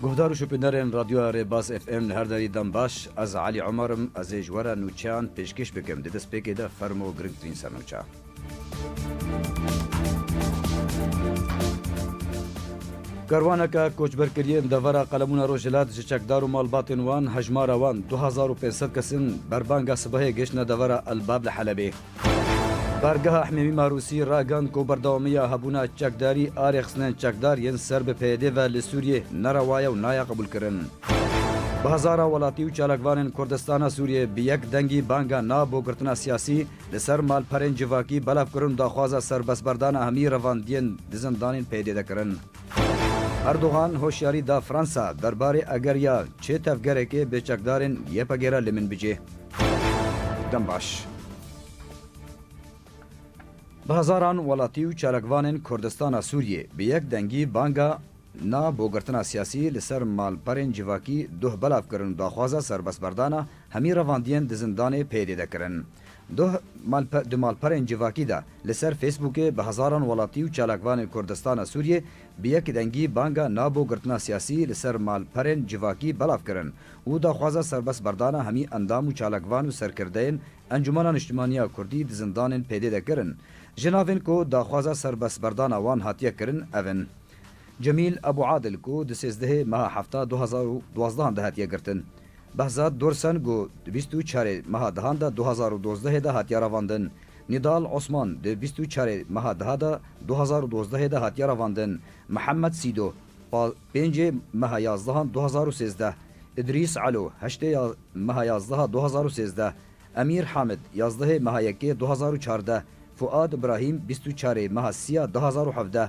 Guhdar û şopîndarên Radyoya Rêbaz FM li her derî dem baş. Ez Elî Omer im, ez ê ji we re nûçeyan pêşkêş bikim. Di destpêkê de fermo girîngtirîn ser nûçe. Karwaneke koçberkiriyên devera Qelemûna Rojhilat ji çekdar û malbatên wan hejmara wan du hezar û pênc sed kes in berbanga sibehê gihiştine devera Elbab li Helebê. Bargeha Himêmî Marûsî ragihand ku berdewamiya hebûna çekdarî a rêxistinên çekdar yên ser bi PYD ve li Sûriyê ne rewa ye û nayê qebûlkirin. Bi hezara welatî û çalakvanên Kurdistana Sûriyê bi yek dengî banga na bo girtina siyasî Li ser malperên civakî belav kirin daxwaza serbestberdana hemî revandiyên di zindanên PYD'de kirin. Erdogan hoşyarî da Fransa derbarê eger ya çê tevgerekê bi çekdarên YPG'ê re li min bicê. Dem baş. Bi hezaran welatî û çalakvanên Kurdistana Sûriyê bi yek dengî banga Na bo girtina siyasî li ser malperên civakî duh belav kirin daxwaza serbestberdana Hemî revandiyên di zindanê pêdê de kirin. Duh malpe di malperên civakî de li ser Facebookê bi hezaran welatî û çalakvanên Kurdistana Sûriyê bi yek dengî banga na bo girtina siyasî li ser malperên civakî belav kirin û daxwaza serbest berdana hemî endam û çalakvan û serkirdeyên Encûmena Niştimaniya Kurdî di zindanên pêdê de kirin. Ji navên ku daxwaza serbest berdana wan hatiye kirin ev in. Cemîl Ebû Adil ku di sêzdehê meha hefta du hezar û duwazdeh an de hatiye girtin. Behzad Dorsen ku di bîst û çarê meha dehan de du hezar û dozdehê de hatiye revandin, Nidal Osman di bîst û çarê meha deha de du hezar û dozdehê de hatiye revandin, Mihemed Sîdo pa pêncê meha yazdehan du hezar û sêzdeh, Îdrîs Elo heştê ya meha yazdeha du hezar û sêzdeh, Emîr Hamid yazdehê meha yekê du hezar û çardeh, Fûad Ibrahîm bîst û çarê meha sî ya du hezar û hevdeh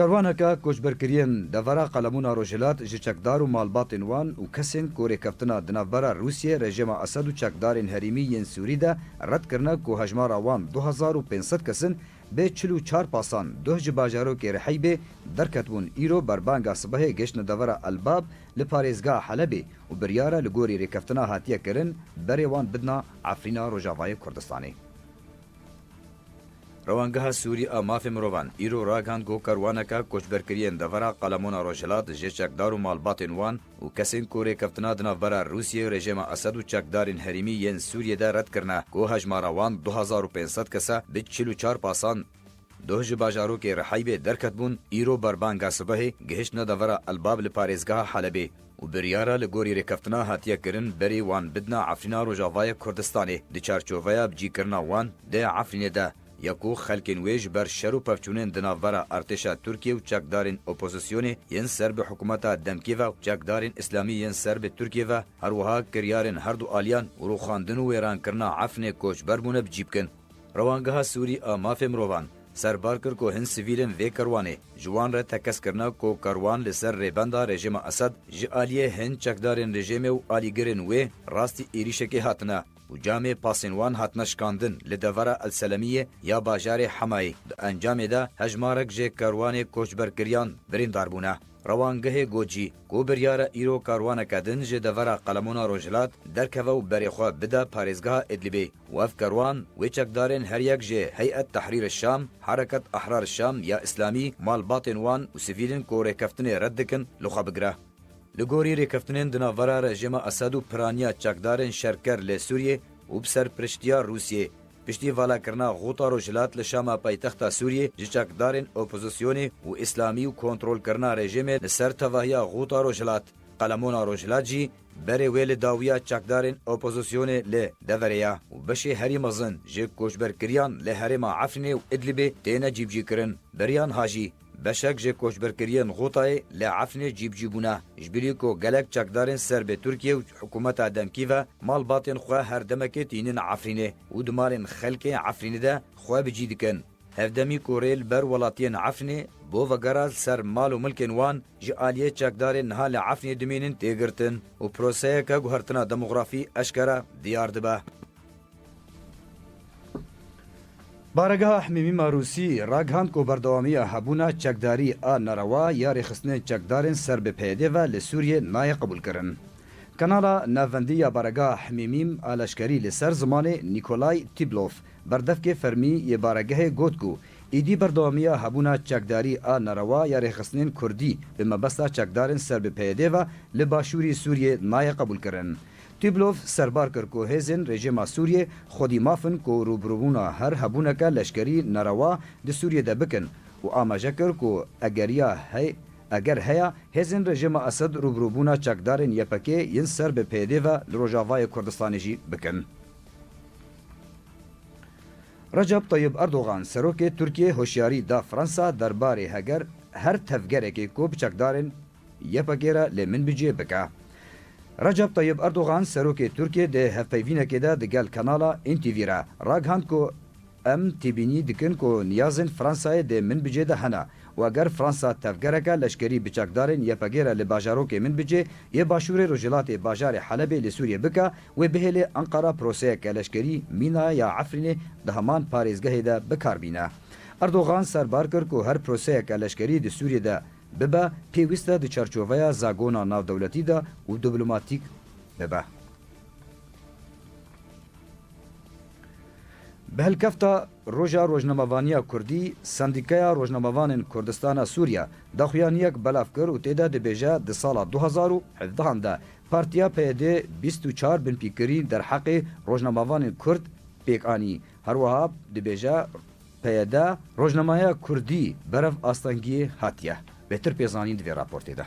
Karwaneke koçberkiriyên devera Qelemun a Rojhilat ji çekdar û malbatên wan û kesên ku rêkeftina di navbera Rûsyê, rejêma Esed û çekdarên herîmî yên Sûrî de red kirine ku hejmara wan du hezar û pênc sed kes in, bê çil û çar pasan duh ji bajarokê Riheybê derketibûn îro berbanga sibehê gehiştine devera El-Bab li parêzgeha Helebê û biryare li gorî rêkeftina hatiye kirin berê wan bidna Efrîna Rojavayê Kurdistanê. Rewangeha Sûrî a Mafê Mirovan îro ragihand ku karwaneke koçberkiriyên devera Qalemona Rojhilat jê çekdar û malbatên wan û kesên ku rêkeftina di navbera Rûsyê, rejêma Esed û çekdarên herêmî yên Sûriyê de red kirine ku hejmara wan du hezar û pênc sed kes e bi çil û çar pasan doh ji bajarokê Rihaybê derketbûn, îro berbanga sibehê gihiştine devera Elbab li parêzgeha Helebê. û biryara li gorî rêkeftina hatiye kirin berî wan bidina Efrîna Rojavayê Kurdistanê, di çarçoveya bicîkirina wan dê Efrînê de ye ku xelkên wê ji ber şer û pevçûnên di navbera artêşa Tirkiyê û çekdarên opozisyonê yên ser bi hikûmeta demkê ve û çekdarên îslamî yên ser bi Tirkiyê ve herwiha kiryarên herdu aliyan û rûxandin û wêrankirina Efrînê koçber bûne bicî bikin. Rewangeha Sûrî a Mafê Mirovan serbar kir ku hin sivîl in vê kerwanê ji wan re tekez kirine ku kerwan li ser rêbenda rejêma Esed ji aliyê hin çekdarên rejêmê û alîgirên wê rastî êrîşekê hatine û camê pasên wan hatine şikandin li devera El Selemiyê ya bajarê Hemayê di encamê de hejmarek jê kerwanê koçberkiriyan birîndar bûne. Rewangehê got jî ku biryar e îro karwaneke din ji devera Qalemona Rojhilat derkeve û berê xwe bide parêzgeha Idlibê. Wef Kerwan, wê çekdarên her yek jê Hey'et Tehrîr Şam, Hereket Ehrar Şam ya Îslamî, malbatên wan û sivîlên ku rêkeftinê red dikin li xwe bigire. Li gorî rêkeftinên di navbera rejîma Esad û piraniya çekdarên şerker lê Sûriyê û bi serpiriştiya Rûsiyê, piştî valakirina Xuta Rojhilat li Şama paytexta Sûriyê ji çekdarên opozisyonê û Îslamî û kontrolkirina rejîmê li ser tevahiya Xuta Rojhilat, Qalemona Rojhilat jî, Berê wê li dawiya çekdarên opozisyonê li deverê ye û beşê herî mezin ji koçberkiriyan li herêma Efrînê û Idlibê têne cîbicîkirin. Beriyan Hajî, Beşek ji koçberkiriyên Xûtayê li Efrînê cîbicî bûne, ji birî ku gelek çekdarên serbê Tirkiye û hikûmeta demkî ve malbatên xwe her demekê tînin Efrînê û di malên xelkê Efrînê de xwe bi cî dikin. Hevdemî ku rê li ber welatiyên Efrînê bo vegera li ser mal û milkên wan ji aliyê çekdarên niha li Efrînê dimînin tê girtin û proseyeke guhertina demografî eşkere diyar dibe. Baregeha Hemîmî Marûsî ragihand ku berdewamiya hebûna çekdarî a nerewa ya rêxistinên çekdarên ser bi PYD'ê ve li Sûriyê nayê qebûlkirin. Kanala navendî ya Baregeha Hemîmîm a leşkerî li ser zimanê Nîkolay Tîblof Berdevkê fermî yê baregehê got ku êdî berdewamiya hebûna çekdarî a nerewa ya rêxistinên kurdî bi mebesta çekdarên ser bi PYD ve li başûrî Sûriyê nayê qebûlkirin. Tûblov serbar kir ku hêzên rejîma Sûriyê xwedî maf in ku rûbirûbûna her hebûneke leşkerî nerewa di Sûriyê de bikin û amaje kir ku egeriya heye eger heye hêzên rejîma Esed rûbirûbûna çekdarên YPG'ê yên ser bi PYD ve li Rojavayê Kurdistanê jî bikin. Recep Tayyib Erdogan serokê Tirkiyê hoşyarî da Fransa derbarê heger her tevgerekê ku bi çekdarên YPG'ê re lê min bi cihê bike. Recep Tayyib Erdogan serokê Tirkiyê di hevpeyvînekê de di gel kanala NTV re ragihand ku Em têbînî dikin ku niyazên Fransayê dê min bi cê de hene û eger Fransa tevgereke leşkerî bi çekdarên YPG'ê re li bajarokê min bi cê yê başûrê rojhilatê bajarê Helebê li Sûriyê bike Wê bihêle Enqera proseyeke leşkerî mîna ya Efrînê di heman parêzgehê de bikar bîne. Erdogan serbar kir ku her proseyeke leşkerî di Sûriyê de bibe pêwîst e di çarçoveya zagona navdewletî de û diplomatîk bibe. Bi hilkefta Roja Rojnamevaniya Kurdî, Sendîkaya Rojnamevanên Kurdistana Sûriye daxuyaniyek belav kir û tê de dibêje di sala du hezar û hevdehan de Partiya PYD bîst û çar binpîkirîn derheqê rojnamevanên kurd pêk anî. Her wiha dibêje, PYD rojnameya kurdî berev astengiyê hatiye. Bêtir pê zanîn di vê raportê de.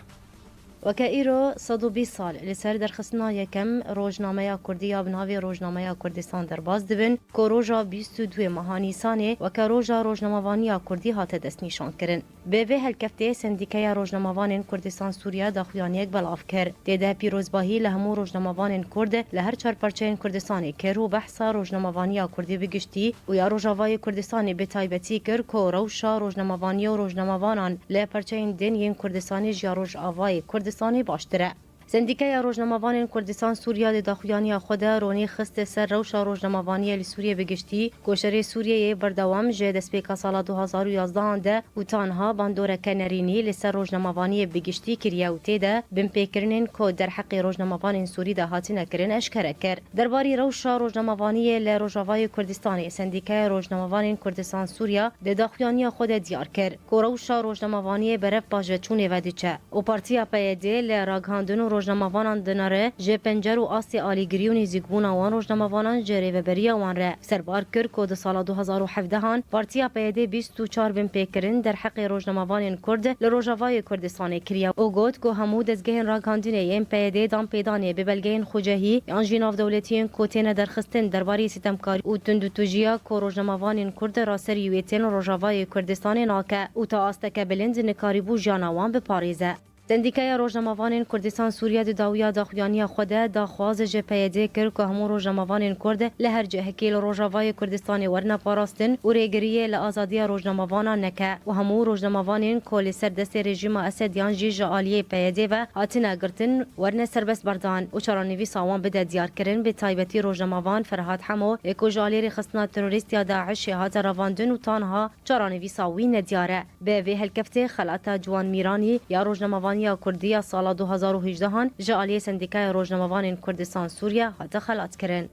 Weke îro sed û bîst sal li ser derxistina yekem rojnameya kurdî ya bi navê Rojnameya Kurdistan derbas dibin ku roja bîst û duê meha Nîsanê weke roja rojnamevaniya kurdî hate destnîşankirin. Bi vê helkeftê Sendîkeya Rojnamevanên Kurdistan Sûriya daxuyaniyek belav kir. Tê de pîrozbahî li hemû rojnamevanên Kurd li her çar parçeyên Kurdistanê kir û behsa rojnamevaniya Kurdî bi giştî û ya Rojavayê Kurdistanê bi taybetî kir ku rewşa rojnamevaniya û rojnamevanan li parçeyên din yên Kurdistanê ji ya Rojavayê Kurdistanê baştir e. Sendîkeya Rojnamevanên Kurdistan Sûriya di daxuyaniya xwe de ronî xiste ser rewşa rojnamevaniyê li Sûriyê bi giştî ku şerê Sûriyeyê berdewam ji destpêka sala du hezar û yazdeh an de û tanha bandoreke nerînî li ser rojnamevaniyê bi giştî kiriye û tê de binpêkirinên ku derheqê rojnamevanên Sûrî de hatine kirin eşkere kir. Derbarî rewşa rojnamevaniyê li Rojavayê Kurdistanê Sendîkeya Rojnamevanên Kurdistan Sûriya di daxuyaniya xwe de diyar kir, Ku rewşa rojnamevaniyê berev pajveçûnê vediçe û Partiya PYD li ragihandin û rojnamevanan dinare ji pencer û astê alîgirî û nêzîkbûna wan rojnamevanan ji rêveberiya wan re serbar kir ku di sala du hezar û hevdeh an Partiya PYD bîst û çar bin pêkirin derheqê rojnamevanên Kurd li Rojavayê Kurdistanê kiriye û got ku hemû dezgehên ragihandinê yên PYD'ê danpêdanê bi belgeyên xwecehî yan jî navdewletiyên ku têne derxistin derbarê sîtemkarî û tundûtûjiya ku rojnamevanên Kurd ra ser yuêtên Rojavayê Kurdistanê nake û ta asteke bilind nikarîbû jiyana wan biparêze. Sendîkaya Rojnamevanên Kurdistan Sûriye di dawiya daxuyaniya xwe de daxwaz ji PYD kir ku hemû rojnamevanên Kurd li her cihekî li Rojavayê Kurdistanê werine parastin û rêgiriyê li azadiya rojnamevanan neke û hemû rojnamevanên ku li ser destê rejîma Esed yan jî ji aliyê PYD ve hatine girtin Werne Serbest Bardan û çaranivîsa wan bide diyarkirin, bi taybetî rojnamavan Ferhat Hemo ê ku ji aliyê rêxistina terorîst ya DAIŞ'ê hate revandin û tanha çaranivîsa wî nediyar e. Bi vê helkeftê xelata Ciwan Mîranî ya rojnamavaniya kurdî ya sala du hezar û hejdehan ji aliyê Sendîkaya Rojnamavanên Kurdistan-Sûriye hate xelatkirin.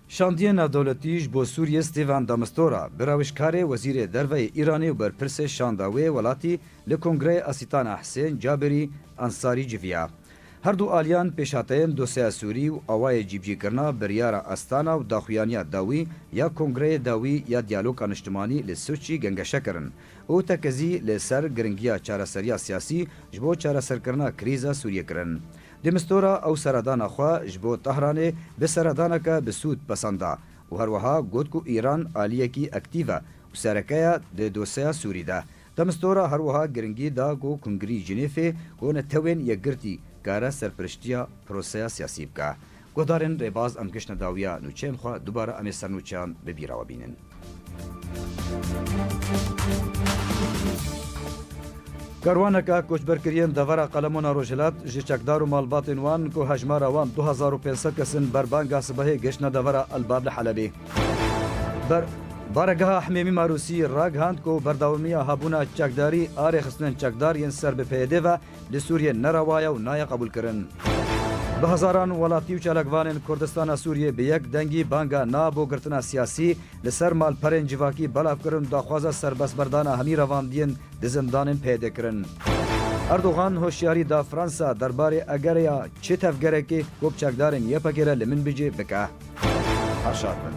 Şandiye Navdewletî ji bo Sûriyê Stêvan de Mistura, bi rewişkarê Wezîrê Derve yê Îranê û berpirsê şanda wê welatî li Kongreyê Asîtana Hisên Cabirî Ansarî civiya. Her du aliyan pêşhateyên dosyeya Sûrî û awayê cîbicîkirina biryara Astana û daxuyaniya dawî ya Kongreyê Dawî ya Diyaloka Niştimanî li Sûçî gengeşe kirin û tekezî li ser giringiya çareseriya siyasî ji bo çareserkirina krîza Sûriyê kirin. De Mistura ew seredana xwe ji bo Tehranê bi seredaneke bi sûd pesend da û her wiha got ku Îran aliyekî ektîv e û sereke ye di dosyeya Sûrî de. De Mistura her wiha giringî da ku Kongirî Jinêfê ku netewên yekgirtî kare serpiriştiya proseya siyasî bike Guhdarên rêbaz em giştine dawiya nûçeyên xwe dubare em ê ser nûçeyan bi bîra we bînin. Karwaneke koçberkiriyên devera Qalemona Rojhilat ji çekdar û malbatên wan ku hejmara wan du hezar û pênc sed kes in berbanga sibehê giştine devera Elbab li Helebê. Ber Baregeha Himêmî Marûsî ragihand ku berdewamiya habûna çekdarî a rêxistinên çekdar yên ser bi PYD ve Li Sûriyê ne rewa ye û nayê qebûlkirin. Bi hezaran welatî û çalakvanên Kurdistana Sûriyê bi yek dengî banga na bo girtina siyasî li ser malperên civakî belav kirin û daxwaza serbestberdana hemî revandiyên di zindanên PYDê kirin. Erdogan hoşyarî da Fransa derbarê egerê ya çi tevgerekê ku bi çekdarên YPG'ê re li min bicî bike. Her şad bin.